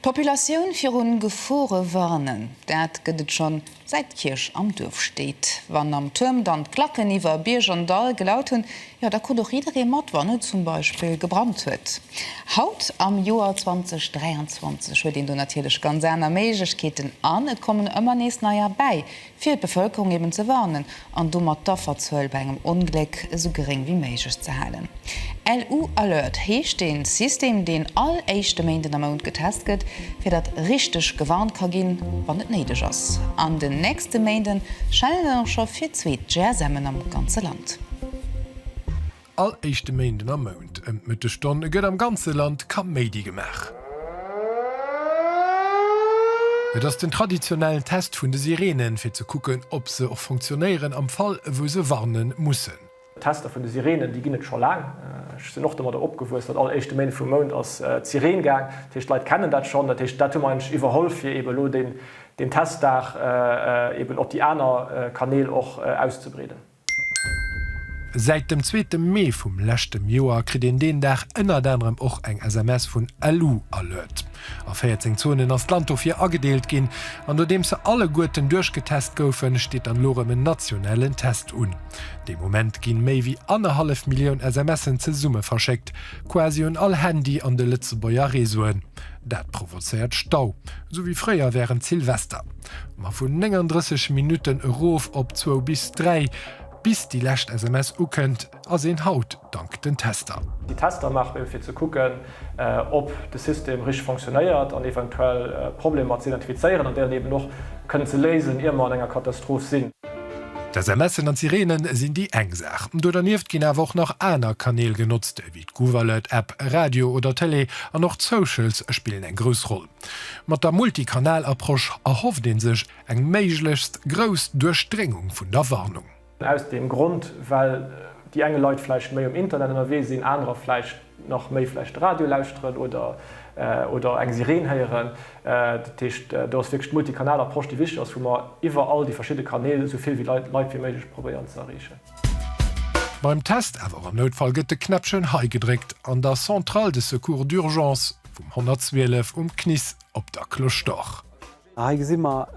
D'Populatioun virun Gefore warnen, dat gëtt et schonn säit d'Kierch am Duerf steet. Wann am Tuerm dann d'Klacken iwwer Bierg an Dall gelaut hunn, jo da konnt och jidderee mat, wann et zum Beispill gebrannt huet. Haut am Joer 2023 huet een do natierlech ganz aner Méiglechkeeten an et kommen ëmmer nees neier bäi, fir d'Bevëlkerung eben ze warnen an domat d'Afferzuel bei engem Ongléck esou geréng wéi méiglech ze halen. LU Alert heescht dee System, deen all éischte Méinden am Mount getest gëtt, fir datt richteg gewarnt ka ginn, wann et néideg ass. An den nächste Méinde schellen dann och scho fir zweet GSMen am ganze Land. All éischte Méinden am Mount ëm d'Mëttegstonn gëtt am ganze Land Kaméidi gemaach. Et ass den traditionellen Test vun de Sireenen, fir ze kucken, ob se och funktionéieren am Fall, wou se warne mussen. Tester vun de Sireenen, déi ginn et scho laang. Ech sinn och domadder opgewuess, datt all éischte Méinden vum Mount ass d'Sireen gaang. Dat heescht, d'Leit kennen dat schonn. Dat heescht, dat hu mer eigentlech iwwerholl, fir eeben elo deen Testdag eeben op déi aner Kanäl och auszebreeden. Säit dem zweete Mee vum leschtem Joer kritt een deen Dag ënnert anerem och eng SMS vun LU Alert. A 14 Zonen ass d'Land dofir agedeelt ginn. An nodeems se alleguerten duerchgetest goufen, steet dann elo erëm en nationalen Test un. De Moment gi méi wéi annerhallef Millioun SMSen zesumme verschéckt, quasi un all Handy an de Lëtzebuerger Reseauen. Dat provozéiert Stau, esou wéi fréier wärend Silvester. Ma vun 39 Minutten erof op zwou bis dräi, bis déi lescht SMS ukënnt, ass een haut dank den Tester. Déi Tester maache mir, fir ze kucken, ob de System richteg funktionéiert an eventuell Problemer ze identifizéieren an déi eben och kënnen ze léisen, ier mer an enger Katastroph sinn. D'SMSen an d'Sirene sinn déi eng Saach. Do dernieft ginn awer och nach aner Kanäl genotzt, ewéi d'Gouv-Alert-App, Radio oder Tëlee an och d'Socials spillen eng grouss Roll. Mat der Multikanal-Approche erhofft ee sech eng méiglechst grouss Duerchdréngung vun der Warnung. Aus deem Grond, well déi enge Leit vläicht méi um Internet ënnerwee sinn, anerer vläicht nach méi vläicht de Radio lauschteren oder oder eng Sireen héieren. Dat heescht, do ass wierklech d'Multikanal-Approche, déi wichteg ass, wou mer iwwer all déi verschidde Kanäl esou vill Leit wéi méiglech probéieren ze erreechen. Beim Test awer am Noutfall gëtt de Knäppchen hei gedréckt an der Centrale de Secours d'Urgence vum 112 um CNIS op der Cloche d'Or. Hei gesi mer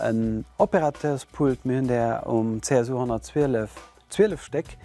en Opérateurspult, mir hunn där um CSU 112 zwielef Stéck,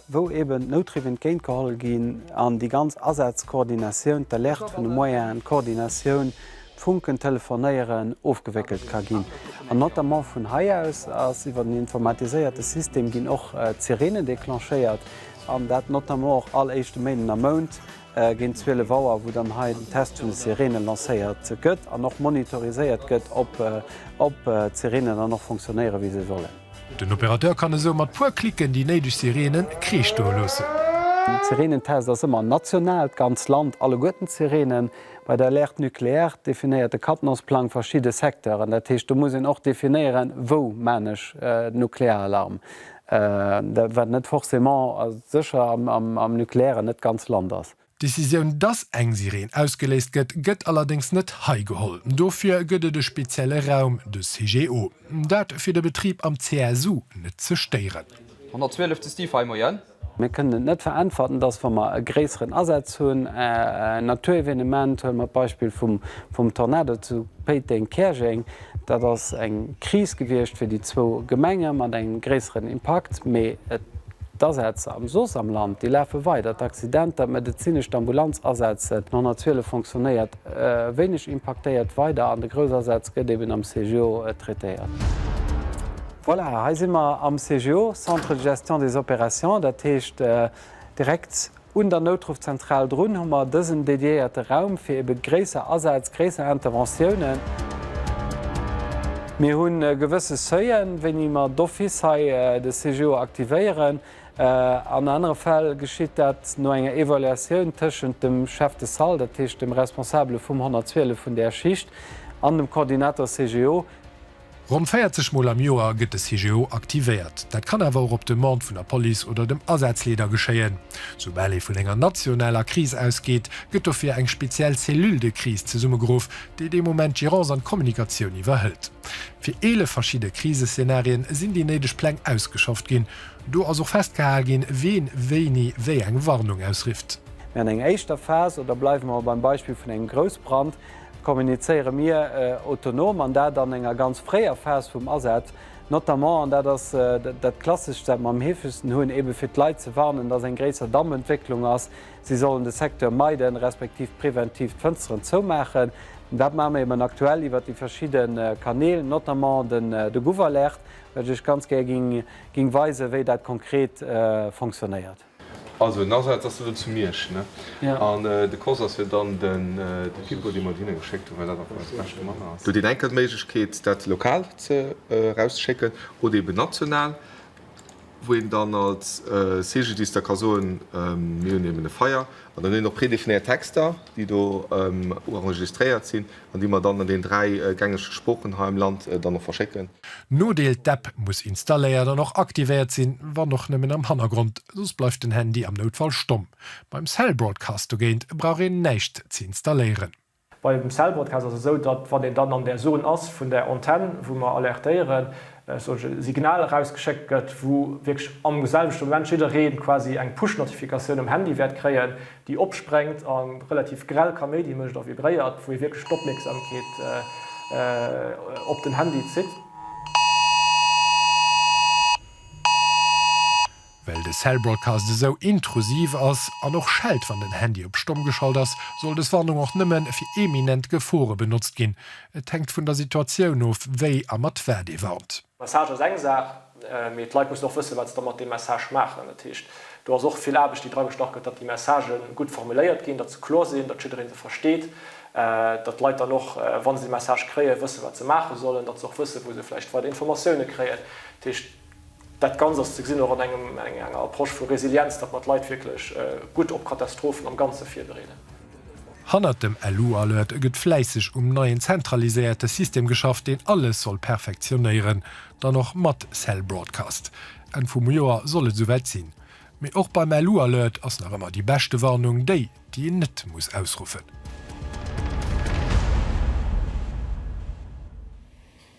wou eben d'Noutdriffe entgéintgeholl ginn an déi ganz Asazkoordinatioun, d'Alerte vun de Moyens, d'Koordinatioun Funken, Telefonéieren ofgewéckelt ka ginn. An notamment vun hei aus ass iwwer den informatiséierte System ginn och d'Sireenen declenchéiert, an dat notamment och all éischte Méinden am Mount géint 12 Auer, wou dann hei den Test vun de Sireenen lancéiert gëtt an och monitoriséiert gëtt, ob d'Sireenen dann och funktionéieren, wéi se sollen. Den Opérateur kann esou mat puer Klicken déi néideg Sireenen kreeschdoe loossen. Den Sireenentest ass ëmmer national, d'ganz Land, alleguerten d'Sireenen. Bei der Alerte nucléaire definéiert de Katenosplang verschidde Secteuren. Dat heescht, do muss een och definéieren, wou man ech den Nuklearalarm, wat net forcément a sécher am Nukleären net d'ganz Land ass. D'Decisioun, dass eng Sireen ausgeléist gëtt, gëtt allerdéngs net hei geholl. Dofir gëtt et e spezielle Raum, de CGO. Dat, fir de Betrib am CSU net ze stéieren. 112 ze Stiefheim, Moien. Mir kënnen et net veräntwerten, dass, wa mer e gréisseren Asaz hunn, en Naturevenement, huele mer d'Beispill vum Tornado zu Péiteng-Käerjeng, dat ass eng Kris gewiescht fir déi zwou Gemenge mat engem gréisseren Impakt, mee d'Asätz am soss am Land, déi lafe weider, d'Accidenter, d'medezinesch, d'Ambulanzasätze, d'Nonnerziele fonctionnéiert. Wéineg impaktéiert weider an de Groussasätz gëtt eben am CGO traitéiert. Voilà, hei si mer am CGO, Centre de gestion des opérations, dat heescht direkt un der Noutruffzentral drun hu mer dësen dediéierte Raum fir ebe gréisser Asätz, gréisser Interventiounen. Mir hu gewësse Seuilen, wéini mer d'office hei de CGO aktivéieren. An anere Fäll geschitt dat no enger Evaluatioun tëschent dem Chef de Salle, dat heescht dem Responsabele vum 112 vun där Schicht, an dem Coordinateur CGO. Ronn 40 Mol am Joer gëtt de CGO aktivéiert. Dat kann awer och op Demande vun der Police oder dem Asazleeder geschéien. Soubal ee vun enger nationaler Kris ausgeet, gëtt dofir eng speziell Cellule de crise zesummegeruff, déi dee Moment d'Gérance an d'Kommunikatioun iwwerhëlt. Fir 11 verschidde Kriseszenarien sinn déi néideg Pläng ausgeschafft ginn. Do ass och festgehal ginn, wien wéini wéi eng Warnung ausrifft. Mir an enger éischter Phas, oder bleiwe mer beim Beispill vun engem Groussbrand, kommunizéiere mir autonom, an dat an enger ganz fréier Phas vum Asaz, notamment, an dat ass dat Klasseschst, wat mer am heefegsten hunn, ebe fir d'Leit ze warnen, dass eng gréisser Dammentwécklung ass, si sollen de Secteur meiden, respektiv präventiv d'Fënsteren zoumaachen. Dat maache mer eben aktuell iwwert déi verschidde Kanäl, notamment de Gouv-Alerte, Well ech Iech ganz gär ging weisen, wéi dat konkret fonctionnéiert. Also en Asaz ass elo zu Miersch, ne? An de Course ass jo dann de Pipo, dee mer do hinne geschéckt hunn, well dat einfach eis beschte Mann ass. Do huet een enkel d'Méiglechkeet, dat lokal erauszeschicken oder eben national, wou een dann als Cegediste ka soen, mir hunn eben e Feier. An dann hunn een och predefinéiert Texter, déi do uenregistréiert sinn, an déi mer dann an den dräi gängege Sproochen hei am Land dann och verschécken. Nodeel, D'App muss installéiert an och aktivéiert sinn, wann och nëmmen am Hannergrond, soss bleift den Handy am Noutfall stomm. Beim Cell Broadcast dogéint brauch een näischt ze installéieren. Beim Cell Broadcast ass et esou, datt wann een dann an der Zone ass vun der Antenn, wou mer alertéieren, e solche Signal erausgeschéckt gëtt, wou wierklech am selwechte Moment jidderee quasi eng Push-Notifikatioun um Handy wäert kréien, déi opsprengt a relativ grell Kaméidi mécht a vibréiert, wou ee wierklech d'Opmierksamkeet op den Handy zitt. Well de Cell Broadcast esou intrusiv ass an och schellt wann den Handy op Stomm geschalt ass, soll des Warnung och nëmme fir eminent Gefore benotzt ginn. Et hänkt vun der Situatioun of wéi a mat wat ee warnt. Message ass eng Saach, Mee d'Leit mussen och wëssen, wat se da mat deem Message maachen. Dat heescht, do ass och vill Aarbecht, déi dragestach gëtt, datt déi Messagë gutt formuléiert ginn, datt se kloer sinn, datt jiddereen se versteet, datt d'Leit dann och, wa se de Message kréien, wëssen, wat se maache sollen, datt se och wëssen, wou se vläicht weider Informatioune kréien. Dat heescht, dat Ganzt ass ze gesinn och an enger Approche vu Resilienz, datt mer d'Leit wierklech gutt op Katastrophen am Ganze virbereeden. Hannert dem LU-Alert gëtt fläisseg um neien zentraliséierte System geschafft, deen alles soll perfektionéieren. Dann och mat Cell Broadcast. Enn vum Joer soll et esouwäit sinn. Mee och beim LU Alert ass nach ëmmer déi beschte Warnung déi, déi een net muss ausruffen.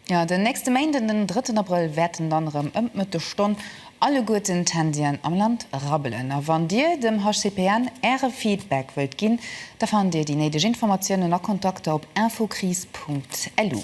Jo, den nächste Méinden, den drëtten Abrëll, wäerten dann erëm ëm d'Mëttesstonn alleguerten d'Handyen am Land rabbelen. A wann Dir dem HCPN Äre Feedback wëllt ginn, da fannt Dir déi néideg Informatiounen a Kontakter op infokris.lu.